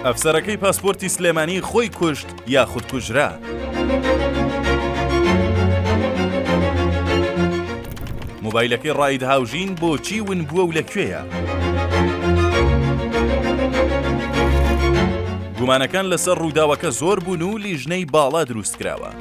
ئەفسەرەکەی پاسپۆرتی سلێمانی خۆی کوشت یاخود کوژرا. مۆبایلەکەی ڕاید هاوژین بۆچی ون بووە و لە کوێیە؟ گومانەکان لەسەر ڕووداوەکە زۆر بوون و لیژنەی باڵا دروست کراوە.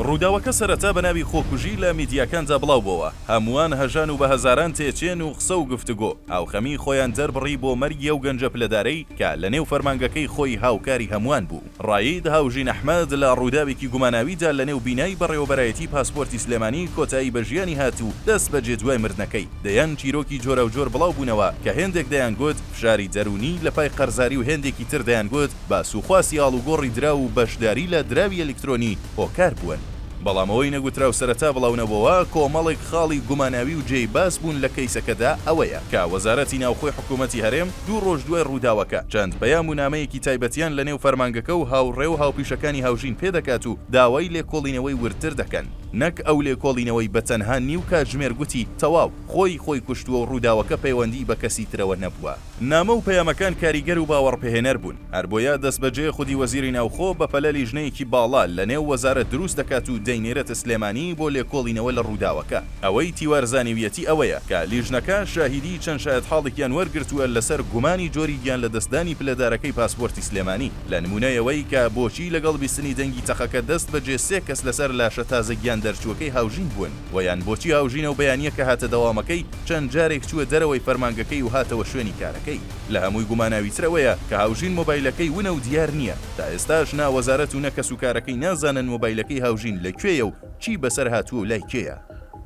ڕووداوەکە سەرەتا بە ناوی خۆکوژی لە میدیاکاندا بڵاوبۆوە، هەمووان هەژان و بە هەزاران تێچێن و قسە و گفتوگۆ، هاوخەمیی خۆیان دەربڕی بۆ مەرگی ئەو گەنجە پلەدارەی کە لە نێو فەرمانگەکەی خۆی هاوکاری هەمووان بوو. رایید هاوژین ئەحمەد لە رووداوێکی گوماناویدا لە نێو بینای بەڕێوەبەرایەتیی پاسپۆرتی سلێمانی کۆتایی بە ژیانی هات و دەست بەجێ دوای مردنەکەی دەیان چیرۆکی جۆراوجۆر بڵاو بوونەوە کە هێندێک دەیانگوت فشاری دەروونی لە پای قەرزاری و هێندێکی تر دەیانگوت باس و خواسی ئاڵوگۆڕی دراو و بەشداری لە دراوی ئەلیکترۆنی هۆکار بوون بەڵام ئەوەی نەگوتراو سەرەتا بڵاونەبۆوە، کۆمەڵێک خاڵی گوماناوی و جێی باس بوون لە کەیسەکەدا ئەوەیە کە وەزارەتی ناوخۆی حکوومەتی هەرێم دوو ڕۆژ دوای ڕووداوەکە چەند پەیام و نامەیەکی تایبەتیان لە نێو فەرمانگەکە و هاوڕێ و هاوپیشەکانی هاوژین پێ دەکات و داوای لێکۆڵینەوەی وردتر دەکەن نەک ئەو لێکۆڵینەوەی بە تەنها نیو کاتژمێر گوتی تەواو خۆی خۆی کوشتووە و ڕووداوەکە پەیوەندیی بە کەسی ترەوە نەبووە. نامە و پەیامەکان کاریگەر و باوەڕپێهێنەر بوون، هەربۆیە دەستبەجێ خودی وەزیری ناوخۆ بەپەلە لیژنەیەکی باڵا لەنێو وەزارەت دروست دەکات و دەینێرێتە سلێمانی بۆ لێکۆڵینەوە لە ڕووداوەکە. ئەوەی تیوار زانیویەتی ئەوەیە کە لیژنەکە شاهیدیی چەند شایەتحاڵێکیان وەرگرتووە لەسەر گومانی جۆری گیانلەدەستدانی پلەدارەکەی پاسپۆرتی سلێمانی لە نموونەی ئەوەی کە بۆچی لەگەڵ بیستنی دەنگی تەقەکە دەستبەجێ سێ کەس لەسەر لاشە تازە گیاندەرچووەکەی هاوژین بوون و یان بۆچی هاوژینە و بەیانییەکە هاتە دەوامەکەی چەند جارێک چووە دەرەوەی فەرمانگەکەی و هاتەوە شوێنی کارەکەی. لە هەمووی گوماناویتر ئەوەیە کە هاوژین مۆبایلەکەی ونە و دیار نییە، تا ئێستاش نا وەزارەت و نە کەسوکارەکەی نازانن مۆبایلەکەی هاوژین لە کوێیە و چی بەسەر هاتووە و لای کێیە.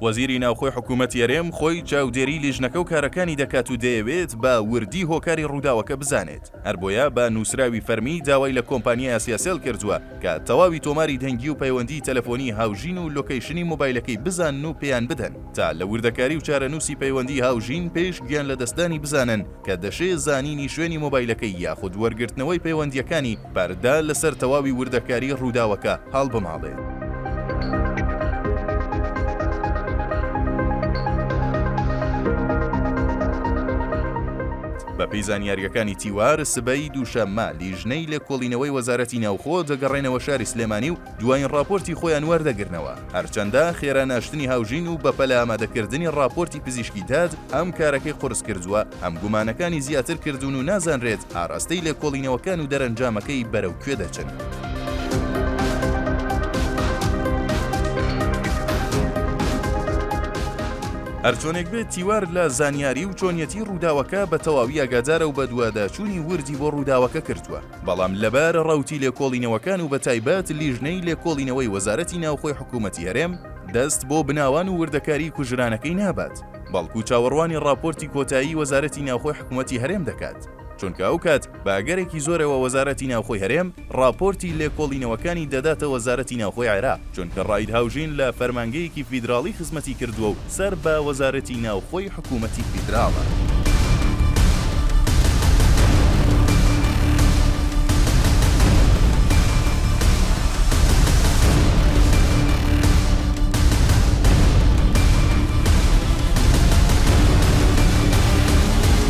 وەزیری ناوخۆی حکوومەتی هەرێم خۆی چاودێریی لیژنەکە و کارەکانی دەکات و دەیەوێت بە وردی هۆکاری رووداوەکە بزانێت. هەر بۆیە بە نووسراوی فەرمی داوای لە کۆمپانیای ئاسیاسێڵ کردووە کە تەواوی تۆماری دەنگی و پەیوەندیی تەلەفۆنی هاوژین و لۆکەیشنی مۆبایلەکەی بزانن و پێیان بدەن تا لە وردەکاری و چارەنووسی پەیوەندیی هاوژین پێش گیانلەدەستدانی بزانن کە دەشێ زانینی شوێنی مۆبایلەکەی یاخود وەرگرتنەوەی پەیوەندییەکانی پەردە لەسەر تەواوی وردەکاری رووداوەکە هەڵبماڵێ. بەپێی زانیارییەکانی تیوار، سبەی دووشەممە لیژنەی لێکۆڵینەوەی وەزارەتی ناوخۆ دەگەڕێنەوە شاری سلێمانی و دوایین ڕاپۆرتی خۆیان وەردەگرنەوە، هەرچەندە خێرا ناشتنی هاوژین و بەپەلە ئامادەکردنی ڕاپۆرتی پزیشکی داد هەم کارەکەی قورسکردووە، هەم گومانەکانی زیاتر کردوون و نازانرێت ئاراستەی لێکۆڵینەوەکان و دەرەنجامەکەی بەرەو کوێ دەچن. هەرچۆنێک بێت تیوار لە زانیاری و چۆنیەتی ڕووداوەکە بە تەواوی ئاگادارە و بەدواداچوونی وردی بۆ ڕووداوەکە کردووە بەڵام لەبارە ڕەوتی لێکۆڵینەوەکان و بەتایبەت لیژنەی لێکۆڵینەوەی وەزارەتی ناوخۆی حکوومەتی هەرێم دەست بۆ بناوان و وردەکاری کوژرانەکەی نابات بەڵکو چاوەڕوانی ڕاپۆرتی کۆتایی وەزارەتی ناوخۆی حکوومەتی هەرێم دەکات. چونکە ئەو کات بە ئەگەرێکی زۆرەوە وەزارەتی ناوخۆی هەرێم ڕاپۆرتی لێکۆڵینەوەکانی دەداتە وەزارەتی ناوخۆی عێراق، چونکە ڕائید هاوژین لە فەرمانگەیەکی فیدراڵی خزمەتی کردووە و سەر بە وەزارەتی ناوخۆی حکوومەتی فیدراڵە.